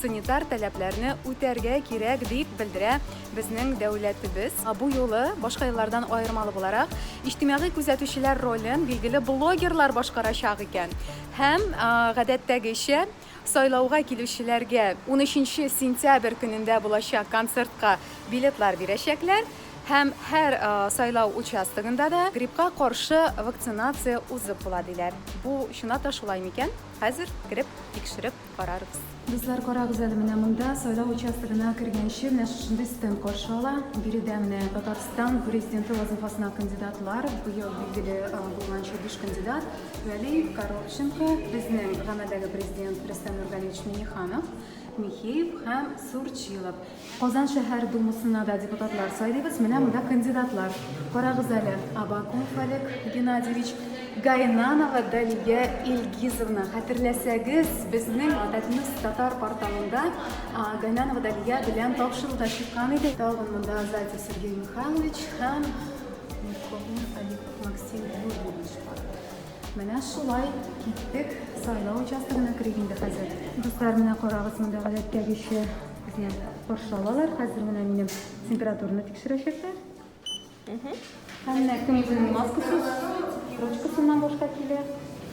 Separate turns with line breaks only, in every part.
санитар таләпләрне үтәргә кирәк, дип белдерә безнең дәүләтебез. Бу юлы, башка еллардан аермалы буларак, иҗтимагый күзәтүчеләр ролен билгеле блогерлар башкарачак икән һәм, гадәттәгечә, сайлауга килүчеләргә унөченче сентябрь көнендә булачак концертка билетлар бирәчәкләр һәм һәр сайлау участогында да гриппка каршы вакцинация узып була, диләр. Бу чынлап та шулай микән? Хәзер кереп, тикшереп карарбыз. Дуслар, карагыз әле, менә монда, сайлау участогына кергәнче, менә шушындый стенд каршы ала. Биредә менә Татарстан Президенты вазыйфасына кандидатлар, быел билгеле булганча биш кандидат, Вәли Коробченко, безнең гамәлдәге Президент Рөстәм Нургалиевич Миңнеханов, Михеев һәм Сурчилов. Казан шәһәр Думасына да депутатлар сайлыйбыз. Менә монда кандидатлар. Карагыз әле, Абакумов Олег Геннадьевич, Гайнанова Далия Илгизовна. Хәтерләсәгез, безнең Татнус татар порталында Гайнанова Далия белән тапшыруда чыккан иде. Тагын монда Зайцев Сергей Михайлович һәм Миконы Халипов Максим Юрьевич бар. Менә шулай киттек сайлау участогына керик инде хәзер. Дуслар, менә карагыз, монда гадәттәгечә Безне каршы алалар. Хәзер менә минем температураны тикшерәчәкләр. Һәм менә кем үзенең маскасы, ручкасыннан башка килә.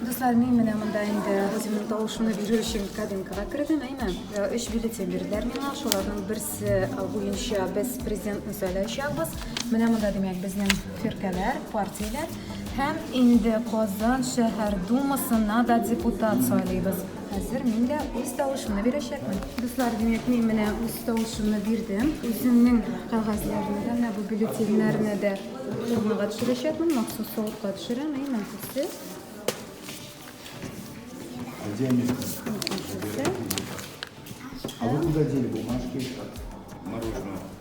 Дуслар, мин менә монда инде үземнең тавышымны бирү өчен кабинкага кердем, әйме? Өч бюллетень бирделәр миңа, шуларның берсе буенча без президентны сайлаячакбыз. Менә монда, димәк, безнең фиркәләр, партияләр һәм инде Казан шәһәр думасына да депутат сайлыйбыз. Хәзер мин дә үз тавышымны бирәчәкмен. Дуслар, димәк, мин менә үз тавышымны бирдем. Үземнең кәгазьләрне дә, менә бу бюллетеньнәрне дә урынга төшерәчәкмен. Махсус савытка төшерәм, әй, мәнфисте.
Где они? А вы куда дели бумажки? Мороженое.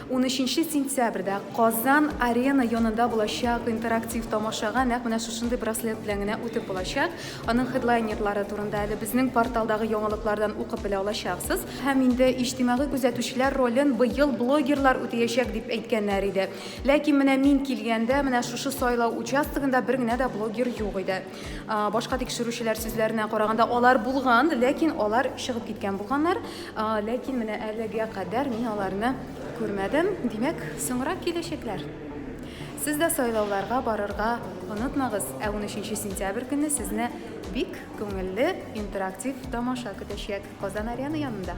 Унөченче сентябрьдә Казан Арена янында булачак интерактив тамашага нәкъ менә шушындый браслет белән генә үтеп булачак. Аның хедлайнерлары турында әле безнең порталдагы яңалыклардан укып белә алачаксыз. Һәм инде иҗтимагый күзәтүчеләр ролен быел блогерлар үтәячәк дип әйткәннәр иде. Ләкин менә мин килгәндә, менә шушы сайлау участогында бер генә дә блогер юк иде. башка тикшерүчеләр сүзләренә караганда алар булган ләкин алар чыгып киткән булганнар ләкин менә әлегә кадәр мин аларны күрмәдем димәк соңрак киләчәкләр сез дә сайлауларга барырга онытмагыз ә 13 сентябрь көне сезне бик күңелле интерактив тамаша көтәчәк казан арена янында